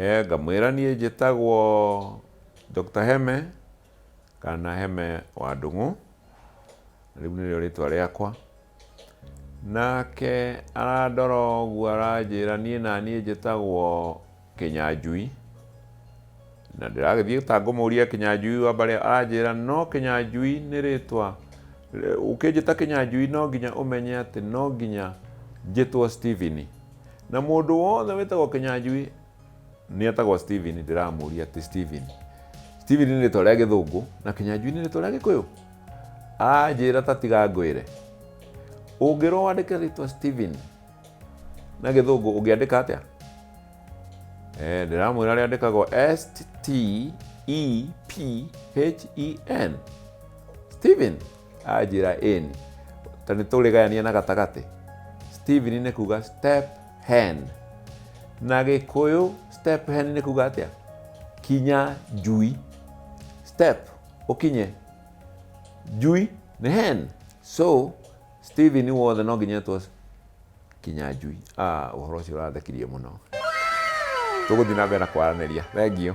Eeh ngamwĩra niĩ njĩtagwo Doctor Heme kana Heme wa Ndũng'ũ, rĩu nĩrĩo rĩtwa rĩakwa. Nake arandora ũguo aranjĩra niĩ naniĩ njĩtagwo Kĩnyanjui, na ndĩragĩthiĩ ta ngũmũria Kĩnyanjui wa mbere aranjĩra no Kĩnyanjui nĩ rĩtwa, ũkĩnjĩta Kĩnyanjui no nginya ũmenye atĩ no nginya njĩtwo Stephen. na mũndũ wothe wĩtagwo kĩnyanjui nĩ etagwo steven ndĩramũria atĩ steven steven nĩ rĩtwa rĩa gĩthũngũ na kĩnyanjui nĩ rĩtwa rĩa gĩkũyũ anjĩra ta tiga ngwĩre ũngĩrwo wandĩke rĩtwa steven na gĩthũngũ ũngĩandĩka atĩa Eh, ndĩramwĩra rĩa andĩkagwo s t e p h e n steven anjĩra in ta nĩ tũrĩgayania na gatagatĩ steven nĩ kuga step hen na gĩkũyũ step hen nĩ kuga atĩa kinya njui step ũkinye njui nĩ hen so steven wothe no nginya etwo Kĩnyanjui. Ah, ũhoro ũcio ũrathekirie mũno. Tũgũthiĩ na mbere na kwaranĩria. Thengiũ.